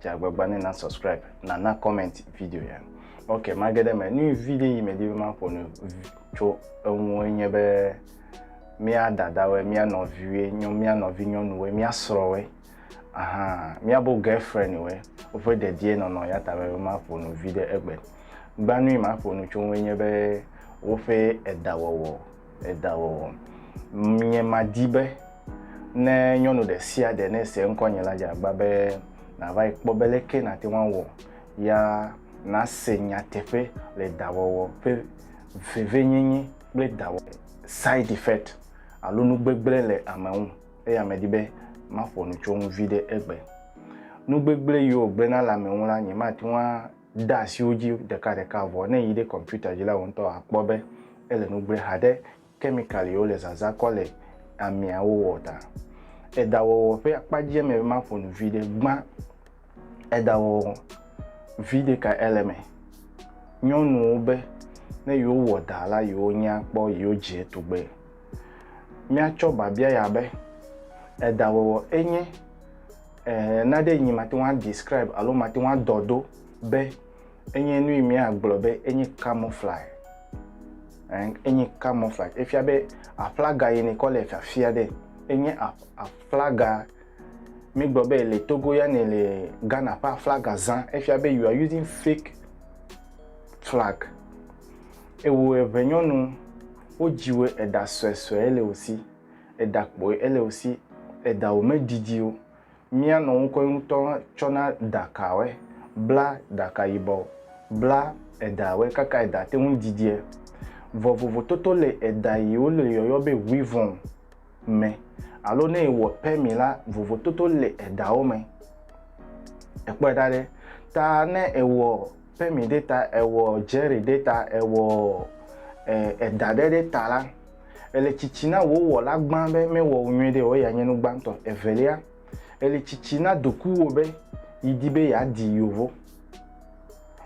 Dze agbagba ne na subscribe, na na comment video ya. Ok, mage ɖe me. Nu vi ɖe yi medi be maƒo nu tso eŋu nye be mía dadawoe, mía nɔviwoe, mía nɔvi nyɔnuwoe, mía srɔ̃woe, aha, mía bo girlfriend woe, woƒe dedie nɔnɔ ya ta be maƒo nu vi ɖe egbe. Gbanui maƒo nu tso ŋu nye be woƒe edawɔwɔ. edawɔwɔ. Nye madi be ne nyɔnu ɖe sia ɖe ne se ŋkɔnye la dze agba be nàva yi kpɔ be leke nàte ŋu awɔ ya nase nyateƒe le dawɔwɔ ƒe vevenyenye kple dawɔwɔ ƒe side effect alo nu gbegblẽ le ame ŋu. Eya medi be maƒo nu tso eŋu viɖe egbe. Nu gbegblẽ yiwo wògblẽna le ame ŋu la, nyemate ŋu a. de asi wo dzi ɖekaɖeka vɔ ne yi ɖe kɔmputa dzi la, wò ŋutɔ àkpɔ be ele nu gblẽ haɖe kemikaliwo le zazã kɔ le amia wowɔ ta. Eɖawɔwɔ ƒe akpa dzi eme be maƒo nu viɖe gbã. Eɖawɔwɔ viɖe kae ele eme? Nyɔnuwo be ne yewowɔ ɖa la yewo nya kpɔ yewo dzie tugbe. Míatsɔ biabia ya be, Eɖawɔwɔ enye Ɛɛ, naɖe nyi mate ŋu adescribe alo mate ŋu adɔ ɖo be enye nu yi míagblɔ be enye camouflage. Ɛɛ, enye camouflage. Efia be aflaga yi nekɔ le fiafia ɖe enye aflaga mígblɔ be le Togo ya ne le Ghana ƒe aflaga zã. Efia be you are using fake flag. Ewò eŋɛnyɔnu, wodziwò eɖa suesue le wò si. edakpɔe ele osi edawo me didi o mia nɔ ŋkɔe ŋutɔ tsɔ na daka wɛ bla daka yibɔ bla eda wɛ kaka eda te ŋu didiɛ vɔ vovototo le eda yiwo le yɔyɔ be huivɔn me alo ne ewɔ pɛ mi la vovototo le edawo me ekpɔe ɖa ɖe ta ne ewɔ pɛ mi ɖe ta ewɔ jɛri ɖe ta ewɔ eda ɖe ɖe ta la Èle tsitsi na wò Wɔla gbã be mewɔ wò nyuiɖe o eye yeanye nu gbãtɔ. Evelia, èle tsitsi na dokuwò be yidi be yeadi Yovo,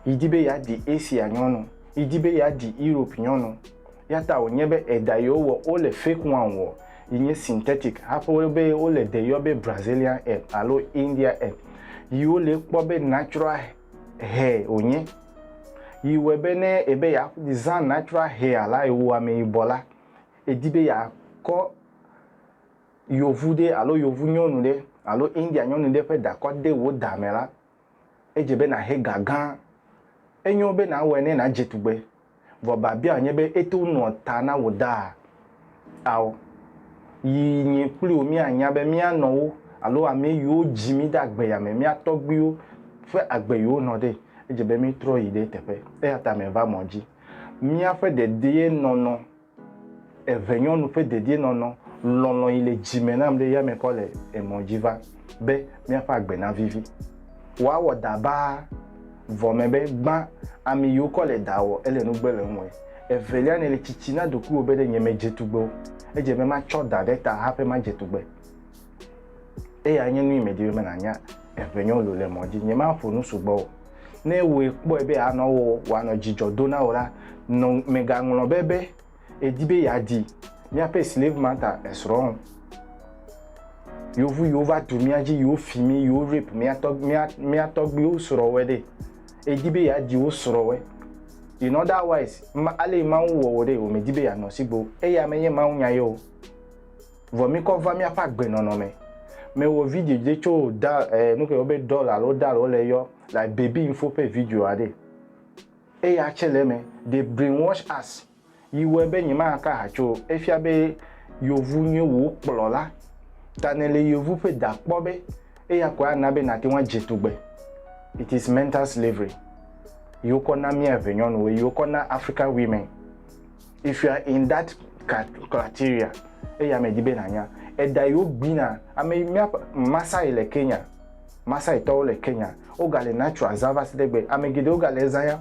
yidi be yeadi Asia nyɔnu, yidi be yeadi Europe nyɔnu. Eyata wònye be eɖa yewo wɔ wole fake one wɔ yi nye synthetic haƒe wo be wole ɖe yɔ be Brazilian hair alo India hair yi wole kpɔ be natural hair. hɛ wònye. Yi wɔe be ne ebe yeazã natural hair la eye wò ameyibɔ la, èdi be yeakɔ yevu ɖe alo yevu nyɔnu ɖe alo India nyɔnu ɖe ƒe ɖa kɔ de wò ɖa me la, edze be nàhe ga gã. Enyo be nàwɔe ne nàdze tugbe Vɔ babiaɔ nye be eto ŋu nɔa ta na wò daa? Ao. Yi nyi kpli wò mía nya be mía nɔwo alo amɛ yiwo dji mí de agbe ya me, mía tɔgbuiwo ƒe agbe yiwo nɔ ɖe. Edje be mí trɔ yi ɖe eteƒe. Eyata me va mɔ dji. Mía ƒe dedee nɔnɔ Eve nyɔnu ƒe dedienɔnɔ, lɔlɔ̃ yi le dzi me nam ɖe yame kɔ le emɔ dzi va be míaƒe agbe navivi. Woawɔ da baa vɔ me be gbã ami yi wokɔ le da wɔ ele nugbe le eŋue. Evelia nèle tsitsi na ɖokuiwò be ɖe nyemedze tugbe o. Edze be matsɔ da ɖe ta hafi madze tugbe. eya nye nu yi medi be menanya eŋenyo lo le mɔ dzi nyemaƒo nu sugbɔ o ne wòe kpɔe be anɔ wɔ wòanɔ dzidzɔ do na wò la nɔ megaŋlɔ be be edi be yeadi míaƒe slave mata esrɔ̃ o yovu yiwo va tu mía dzi yiwo fi mí yiwo rape mía tɔ mía mía tɔgbiwo srɔ̃wɔe ɖe edi be yeadi wo srɔ̃wɔe in otherwise ma ale mawu wɔ wò ɖe wòmedi be yeanɔ sigbo eya menye mawu nya ye o Vɔ mìkɔ va mìaƒe agbenɔnɔ me. Mewɔ video ɖe tso doll, eh, nuke yɔwo be doll alo doll wole yɔ, like baby info ƒe videoa ɖe. Eya tsɛ le eme. They brainwash us. Yi wɔe be nyemaka ha tso o. Efia be yevu nye wò kplɔla. Ta nèle yevu ƒe da kpɔ be eya koe ana be nàte ŋu adze tugbe. It is mental slavery yi wokɔ na mía eŋɛnyɔnuwo, yi wokɔ na African women. If you are in that criteria, eya me di be nanya, eɖa yi wo gbina, ame yi mía Masai le Kenya, Masai tɔwo le Kenya, wo ga le natural zã va se ɖe egbe. Ame geɖe wo ga le ezã ya.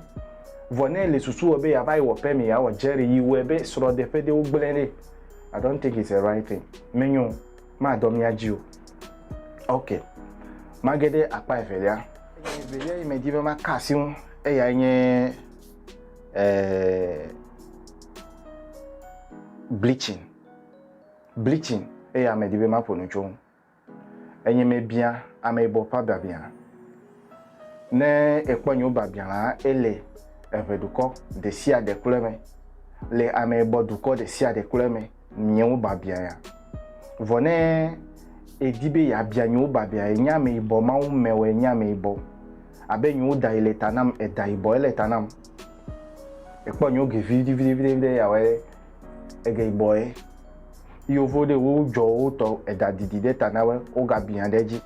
Vɔ ne ele susu wɔ be ya va yi wɔ permit ya wɔ jerry yi wɔe be srɔ ɖe ƒe ɖe wo gblẽ ɖe. I don't think it's a right thing. Me nyo, ma dɔ mía dzi o. Ok. Ma ge ɖe akpa evelia. Evelia yi me di be ma ka asi ŋu, eya nye eh, bleaching bleaching eye ame di be maƒo nu tso ŋu enye mebia ame yibɔ ƒe abiabia ne ekpɔ nyewo biabia la ele eʋe dukɔ ɖe sia ɖe kple me le ame yibɔ dukɔ ɖe sia ɖe kple me nyewo biabia ya. Vɔ ne edi be yeabia nyewo biabia ya, enye ameyibɔ, Mawu mɛwɔ enye ameyibɔ. Abe nyewo da yi le ta nam, eda yibɔ ele ta nam. Ekpɔ nyewo ge viɖi viɖi viɖi viɖi ya wɔ ege yibɔ ye. Yovo ɖe wo dzɔ wotɔ eda didi ɖe ta na wo, woga bia ɖe edzi.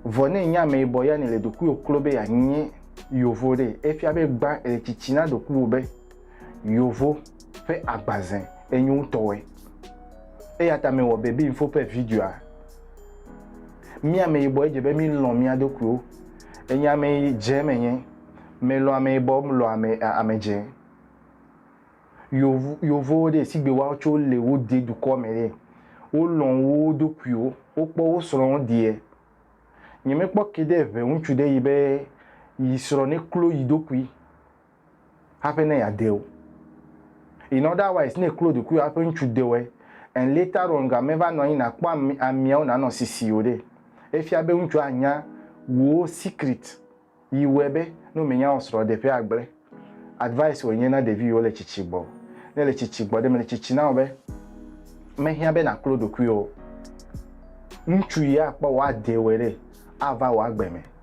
Vɔ ne enye ameyibɔ ya ne le ɖokuiwo klo be yeanye yovo ɖe, efia be gbã ele tsitsi na ɖokuiwo be Yovo ƒe agbazẽ enyo ŋutɔe. Eya ta mewɔ Baby Info ƒe videoa. Mí ameyibɔ edze be mílɔ̃ mía ɖokuiwo. Enye ame dze menye. Melɔ̃ ameyibɔ, melɔ̃ ame, ame dze. Yovo, yovowo ɖe, sigbe woawo tso le wo de dukɔ me ɖe, wolɔ̃ wo ɖokuiwo. Wokpɔ wo srɔ̃wo deɛ. Nyemekpɔ ke ɖe ŋe ŋutsu ɖe yi be yi srɔ̃ neklo yi ɖokui. haƒe ne yeade wo. In other wise, ne eklo ɖokuiwò haƒe ŋutsu de wɔe, and later on ga meva nɔ anyi nàkpɔ ami, amiawo nànɔ sisi o ɖe, efia be ŋutsua anya wò secret yi wɔe be ne womenya wò srɔ̃ ɖe ƒea agblẽ. Advice wònye na ɖevi yiwo le tsitsi gbɔ. Ne èle tsitsi gbɔ ɖe, mele tsitsi na wò be mehiã be nàklo ɖokuiwò o. Ŋutsu yi akpɔ wò ade wɔe ɖe, ava wò agbe me.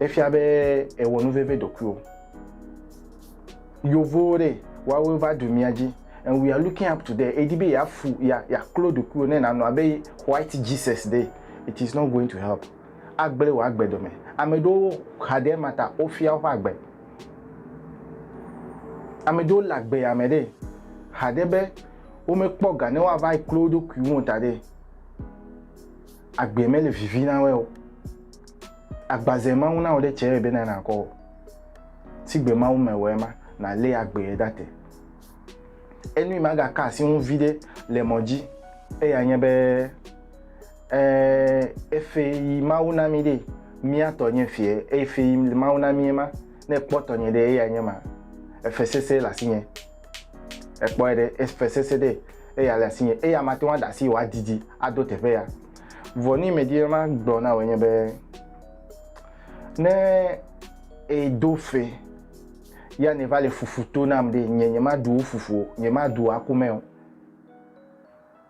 efia be ewɔ nu veve ɖokuiwo. Yovowo ɖe, woawo va ɖu mía dzi and we are looking up to them. Edi be yeafu, ya, yaklo ɖokuiwo ne nànɔ abe white Jesus ɖe, it is not going to help. Agblẽ wò agbe dome. Ame ɖewo xa ɖe ema ta wofia woƒe agbe. Ame ɖewo le agbe ya me ɖe, xa ɖe be womekpɔ ga ne woava klo wo ɖokui ŋu o ta ɖe, Agbee mele vivi na wɛ o. Agbaze Mawu na wò ɖe tsɛ be na nàkɔ o. Sigbe Mawu me wɛ ma, nàlé agbee ɖa te. Enui magaka asi ŋu viɖe le mɔ dzi eya nye be, ɛ, efe yi Mawu na mí ɖee. Mía tɔ nye efe, efe yi Mawu na mí ye ma. Ne ekpɔ tɔnye ɖee, eyae nye ma. Efe sese le asinye. Ekpɔe ɖe, efe sese ɖe eya le asinye, eya mate ŋu aɖe asi wòadidi ado teƒe ya. Vɔ ni medi be magblɔ na wò nye be, ne èdo fe ya nèva le fufu to nam ɖe, nye nyemaɖu wò fufu o, nyemaɖu wò akumɛ o.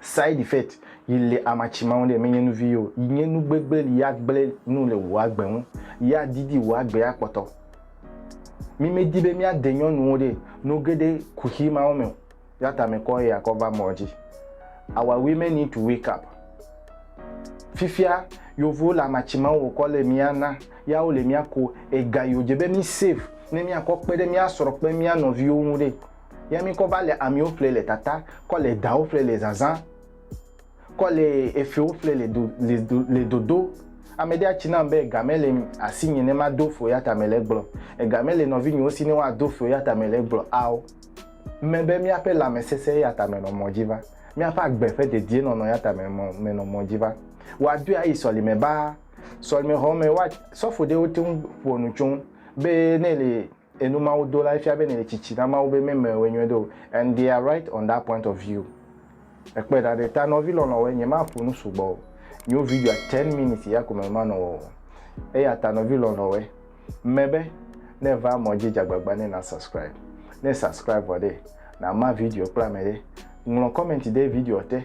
Side effect yi le amatsi maŋu ɖe menye nuvi yo yi nye nu gbegble yi ya gble nu le wò agbe ŋu yi ya didi wò agbe ya kpɔtɔ. Mi me di be mia de nyɔnuwo ɖe nu geɖe kuxi mawo me o ya ta me kɔ eya kɔ va mɔ dzi. Our women need to wake up. Fifia yovo le amatsi maŋu wò kɔ le mia na ya wo le mia ko ega yi wo dze be mi save ne mia kɔ kpe ɖe mia srɔ kple mia nɔviwo ŋu ɖe. Yɛ mí kɔ va le amiwo ƒle le tata, kɔ le dawo ƒle le zazã, kɔ le efewo ƒle le do, le do, le dodo. Amɛɖe atsi nam be ega mele asinye ne mado feo yata mele egblɔ. Ega mele nɔvinyewo si ne woado feo yata mele egblɔ ao. Mme be míaƒe lãmesesẽ yata menɔ mɔ dzi va. Míaƒe agbe ƒe dedienɔnɔ yata me, mɔ, menɔ mɔ dzi va. Woadɔe ayi sɔlime baa. Sɔlimexɔ me, woa, sɔfoɖewo te ŋu ƒoa nu tso ŋu be ne ele. Enumawudolae fia be nèle tsitsi na Mawu be memewɔe nyuie ɖe o and they are right on that point of view. Èkpɔe ɖa ɖe ta nɔvi lɔlɔ̃woe, nyemaƒo nu sugbɔ o, nyo videoa ten minutes ya ko mele manɔ wɔ o. Eyata nɔvi lɔlɔ̃woe, ŋme be ne èva mɔ dzi dze agbagba ne na subscribe. Ne subscribe vɔ ɖe, nama video kple ame ɖe. Ŋlɔ comment ɖe videoa te.